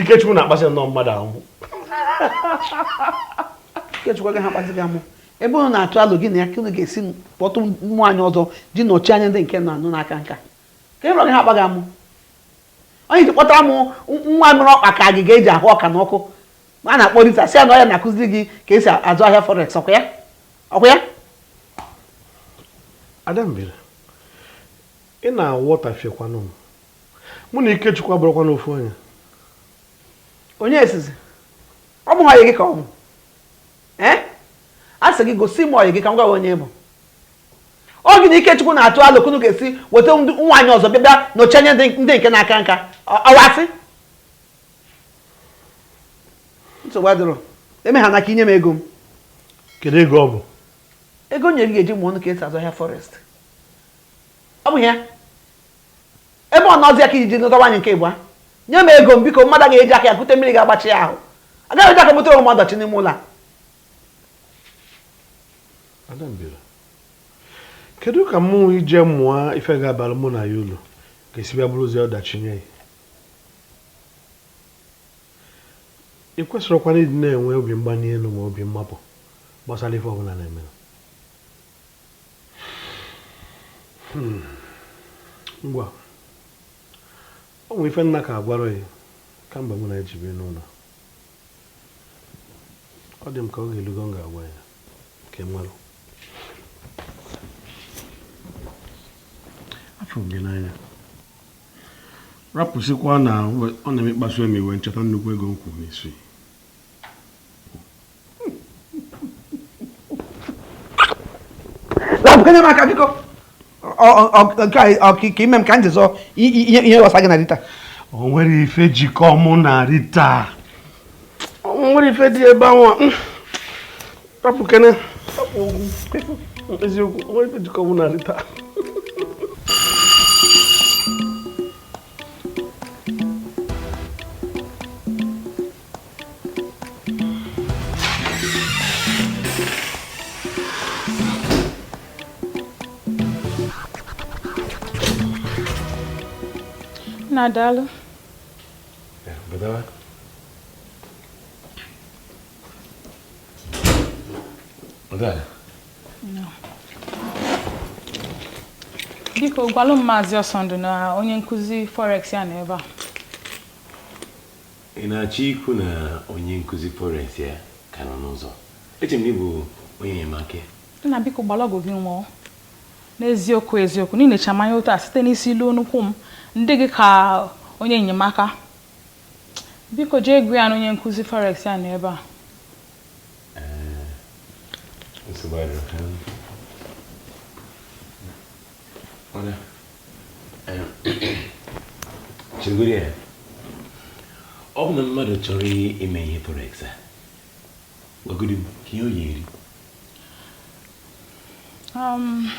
Ikechukwu na-akpasị nnọọ mmadụ amụ Ikechukwu agaghị akpasị gị amụ ebe ọ na-atụ alo gị na ya ka unu ga-esi kpọta nwaanyị ọzọ ji nọchi anya ndị nke na-anụ na-aka nka kee ihe ọ ga-eji ha akpa gị amụ onye ji kpọtara m nwa mere ọkpa ka agịga eji ahụ ọka n'ọkụ a na-akpọ rita sị na ọ ya na-akụziri gị ka esi azụ ahịa forex ọkwa ya ọkwa ya Adambele ị na-awọtafiekwanụ m mụ na Ikechukwu abụrọkwanụ ofu onye onye sịzị ọ bụrọ ọyị gị ka ọ bụ ee a sị gị gosi m ọyị gị ka m gwa gị onye ị bụ ọ gị na Ikechukwu na-atụ alo ka unu ga-esi weta nwaanyị ọzọ bịa bịa nọchi anya ndị nke na-aka nka ọwasị nsogbu adịrọ eme ha n'aka i nye m ego m kedu ego ọ bụ ego nye gị ga-eji mụọ ọnụ ka esi azụ ahịa forex ọ bụ ya ebe ọ nọzi aka i ji nụta nwaanyị nke ịbụa nye m ego m biko mmadụ ga-eji aka ya kute mmiri ga-agbachi ya ahụ agaghị m eji aka m butere onwe m ọdachi n'ime ụlọ kedu ka mụ ije mụọ ife ga-abalụ mụ na gị ulu ga-esi bịa bụrụzịa ọdachi nye gị ị kwesịrọkwanụ ịdị na-enwe obi mgbanye elu na obi mmapụ gbasara ife ọbụla m na-eme Hmm. ngwa o nwe ife m na-aka agwarọ gị kamgbe mụ na gị ji bie n'ụlọ ọ dị ka oge elugo m ga-agwa gị ka ị malụ afụ m gị n'anya rapụsịkwa na ọ na-emekpasu m iwe m cheta nnukwu ego m kwụrụ n'isi rapụkene m aka biko ọ ka i mee m ka m chezọọ ihe ọsa gị na rita o nwere ife jikọ mụ na rita o nwere ife dị ebe anwa rapụkene eziokwu o nwere ife jikọ mụ na rita nna daalụ biko gwalụ m maazị ọsọndụ na onye nkụzi forex ya nọ ebe a Ị na-achọ ikwu na onye nkụzi Forex ya ka nọ n'ụzọ? Eche m na ị bụ onye enyemaka. Nna biko gbara ọgụ gị nwụọ. N'eziokwu eziokwu, n'inecha m anya otu a site n'isi luo n'ụkwụ m, m dị gị ka onye enyemaka. Biko jee gwa ya na onye nkụzi Forex ya nọ ebe a. Ee, nsogbu adịrọ. chegoro ya ọ bụ na mmadụ chọrọ ime forex a gwagodi m ka ihe ọ ya-eri um,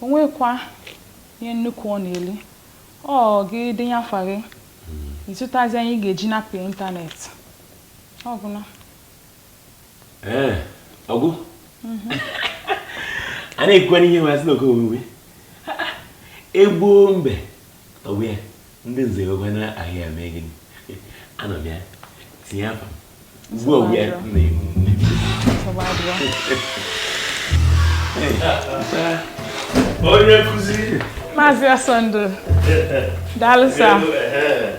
o nwekwa ihe nnukwu ọ na-eli ọ gị denye afa gị hmm. ị zụtazi ihe ị ga-eji na-apụ ịntanetị ọ gwụla ee ọgụ a na-ekwukwana ihe nwe isi na oke omume egbuo mbe tọgbọ ya ndị nze wekwa na ahịa ya mee gịnị anọ m ya tinye afa m ugbu a ya m na-egbu nne onye nkụzi maazị asọndụ daalụ sa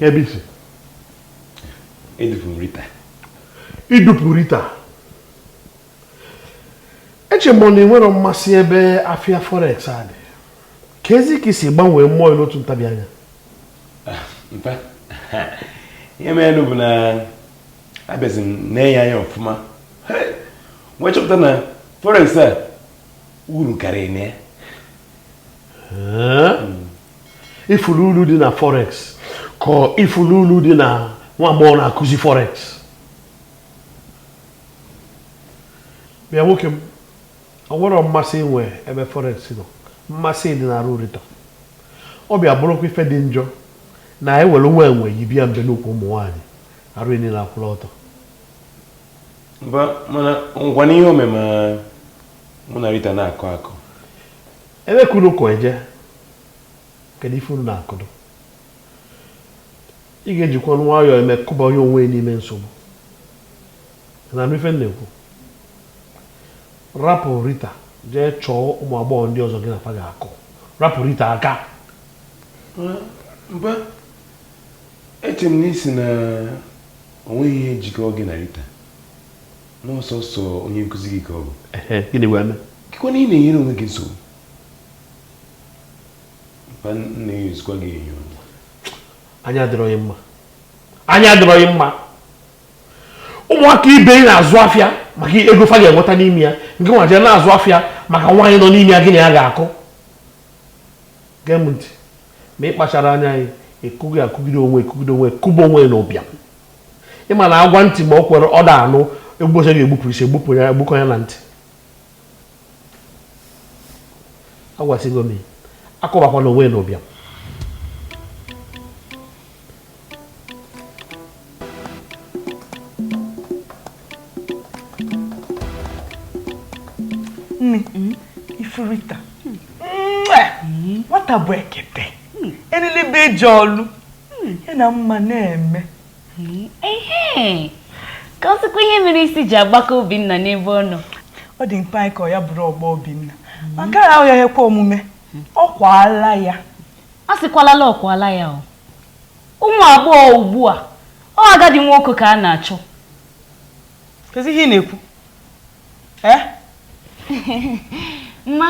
Ebe i si? Edupụrụ Rita. I dupụ Rita? Eche m na i nwerọ mmasị ebe afịa forex a dị. Keezi ka i si gbanwee mmụọ n'otu ntabi anya. Ah, mpa, ihe mere bụ na abịazi m nenye anya ọfụma. M wee chọpụta na forex a uru karịrị na ya. ị fụrụ uru dị na forex ka ị fụrụ uru dị na nwa agbọghọ na-akụzi forex bịa nwoke m o nwerọ mmasị i nwe ebe forex nọ mmasị dị n'arụ rita ọ bịa bụrụkwa ife dị njọ na i nwerọ onwe yi bịa mbe n'okwu ụmụ nwaanyị arụ niile akwụrụ ọtọ mana ngwa n'ihe omeme mụ na rita na-akọ akọ Ebe ka unu kwụ eje? Kedu ife unu na-akwụdo? Ị ga-ejikwa nwayọọ eme kụba onwe yi n'ime nsogbu. Ị na-anụ ife m na-ekwu? Rapụ Rita jee chọọ ụmụ agbọghọ ndị ọzọ gị na fa ga-akwụ. Rapụ Rita aka. Mpa, eche m na ị sị na o nweghị ihe jikọọ gị na Rita. na ọsọsọ onye nkụzi gị ka ọ bụ ehe gịnị wee mee gịkwa na ị na-enyere onwe gị nsogbu mpa nna ya ezikwa gị enyo anya adịrọ gị mma anya adịrọ gị mma ụmụaka ibe ị na-azụ afịa maka ego fa ga-enweta n'ime ya nke nwa jee na-azụ afịa maka nwaanyị nọ n'ime ya gị na ya ga-akụ gee m ntị ma ị kpachara anya anyị ekụghị akụgide onwe ekụgide onwe kụba onwe n'ụbịam ị ma na a gwa ntị ma o kwerọ ọda anụ ụbọsị a ga-egbupụ isi egbupụ ya egbukọ ya na ntị agwasịgo m akụbakwana onwe n'ụbịam nne hmm? ị fụ rita hmm. nwata bụ ekete elili bụ ije ọlụ Hmm, ya na mma na-eme hmm, ehe ka ọ sịkwa ihe mere isi ji agbaka Obinna n'ebe ọ nọ ọ dị mkpa anyị ka ọ ya bụrụ ọgbọ Obinna hmm. ma nke a ahụ ya ekwe omume ọ kwaala ya a sịkwalala ọ kwaala ya o ụmụ agbọghọ ugbu a ọ agadi nwoke ka a na-achọ kezi ihe ị na-ekwu eh? mma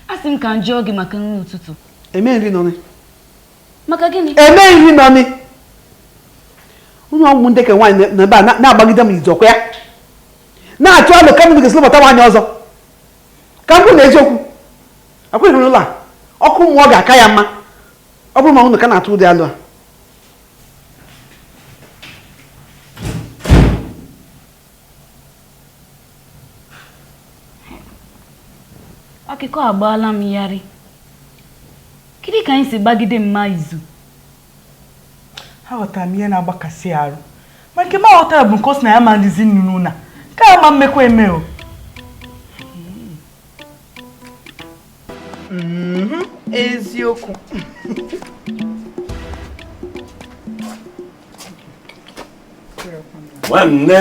a sị m ka m jụọ gị maka nri ụtụtụ eme nri n'ụnọ maka gịnị emeghị ihe nọmi unu ọgwụ ndị ka nwaanyị nọ ebe a na-agbagide m izu ọkwa ya na-atụ alo ka mmadụ ga-esi lụbata nwaanyị ọzọ ka m kwụ na eziokwu akweghị n'ụlọ a ọkụ mmụọ ga-aka ya mma ọ bụrụ ma unu ka na-atụ ụdị alo a akụkọ agbaala m yarị kedụ ka anyị si gbagide mma izu aghọtara m ihe na-agbakasị arụ ma nke m aghọtarọ bụ nke ọ sị na ya ama dịzi ndụ n'ụnọ a nke a ama emekwa eme o mhm. eziokwu nwanne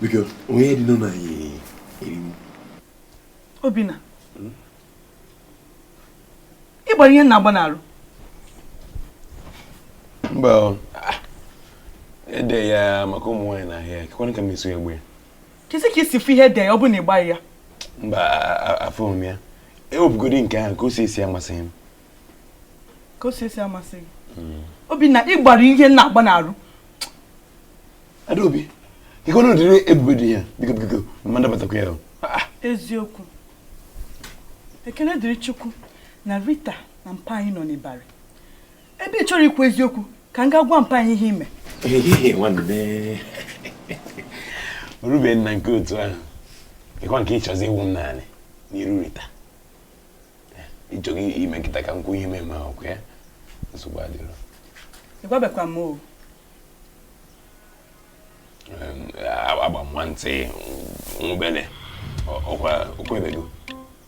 biko onye dị n'ụlọ anyị eriwu obinna ị gbara ihe m na-agba n'arụ mba e de ya maka ụmụ nwaanyị n'ahụ ya kekwanụ ka m esi gba ya kezi ka i si fụ ihe e de ya ọ bụ na ị gbaghị ya mba afụghị m ya ewepụgodi nke ahụ ka o si esi amasịghị m ka o si esi amasịghị gị hmm. obinna ị gbara ihe m na-agba n'arụ adaobi ike ọnụ dịrị ebube dị ya biko biko mma nabatakwa ya ah, ah. eziokwu ekele dịrị chukwu na rita na mpa anyị nọ n'ịbarị ebe ị chọrọ ikwu eziokwu ka m gaa gwa mpa anyị ihe i mere Obinna nke otu ahụ ịkwa nke ịchọzi iwu m naanị n'iru rita ịchọghị ime kịta ka m kwuo ihe mee ma ọkụ ya nsogbu adịrọ ịgwabekwa m o agba m nwantị nwụbele ọkwa okwebego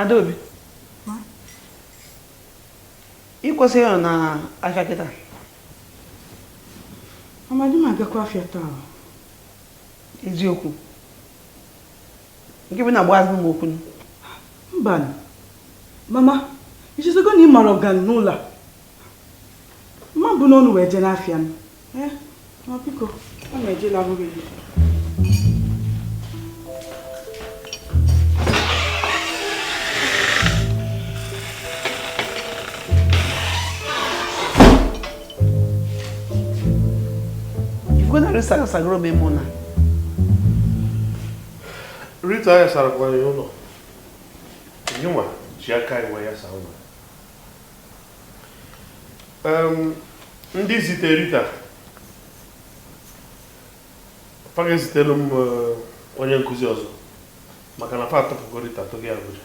Adaobi ị kwesịrị ịnọ na afịa kịta mama adị m agakwa afịa taa eziokwu nke bụ na agba azụ m okwu mbanụ mama i chezogo na ị mara ọ ga-anọ n'ụlọ a mma bụ n'ọnụ wee jee n'afịa m Eh, ma biko, ọ na-eje labụghị gị. Rita sagoro m mụ na Rita ya sarakwara ya ụlọ nwa ji aka iwe ya saa ụlọ ndị zite Rita fa ga-ezitelu m eh, onye nkụzi ọzọ maka na fa atọpụgo Rita togo Abuja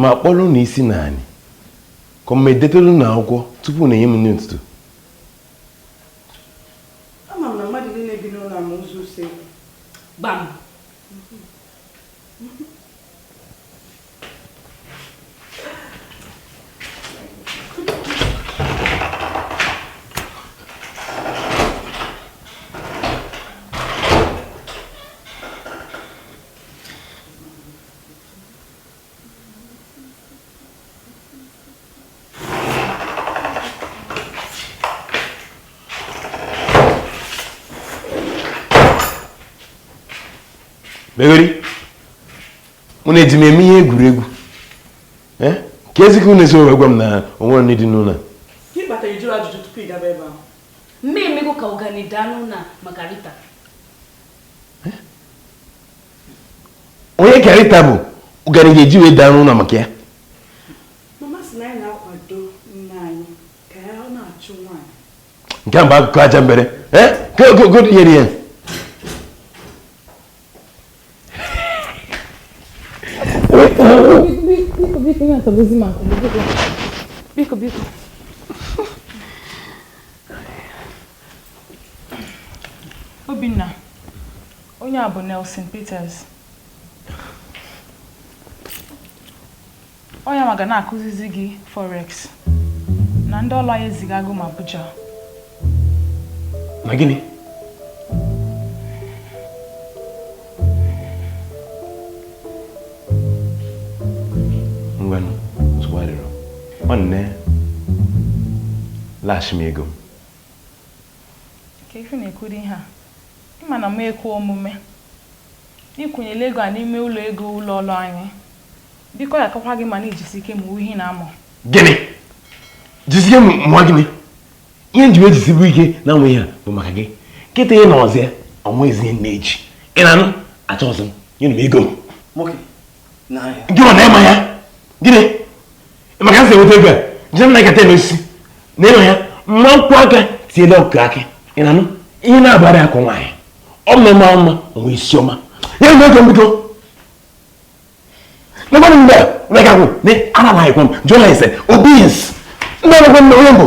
ma kpọrọ na isi nna anyị ka m edetelu na akwụkwọ tupu na-enye m nri ụtụtụ ama m na mmadụ niile bi n'ụlọ a ma ụzọ usekwu gbam megheri unu eji m eme ihe egwuregwu eh? kezi ka unu esi wee gwa m na o nwere nri dị n'ụlọ mmiri mmiri ka ọganihu anụ na maka rita onye karịta bụ ụgara ga-eji wee daa n'ụlọ maka ya nke a bụ akụkọ ajambele nke ogogo nyere ya biko biko Obinna, onye a bụ Nelson Peters. Ọ ya nwa ga na-akụzizi gị forex na ndị ọlụ anyị ezigago m Abuja. Na gịnị? Ngwanụ, nsogbu adịrọ. Nwanne, laghachi m ego m. ka ife na-ekwuru ihe a ị ma na ọ ma ekwe omume ịkwụnyela ego a n'ime ụlọ ego ụlọ ọrụ anyị biko ya akakwa gị mma na ijisi ike mụwa ihe ị na-amụ gịnị jisike mụwa gịnị ihe m ji wee jisibu ike na-amụ ihe a bụ maka gị nkịta ị na ọzọ ya ọnwa ezi ihe na-eji ị na-anụ achọ ọzọ nyenụ m ego m gị ọ na-ema ya gịnị maka asị enweta ego a jee na ịkata eme osisi na ịnọ ya ma m kwọ aka tiele ọkụkọ akị ị na-anụ ihe na-agbara akụ nwaanyị ọ bụ mma mma onye isi ọma ya nwe ego mbido nobody mgbe na-aga kwụ na ara na-akwụ m jụọ ya ise obis ndị ọrụ gwa m na onye mbụ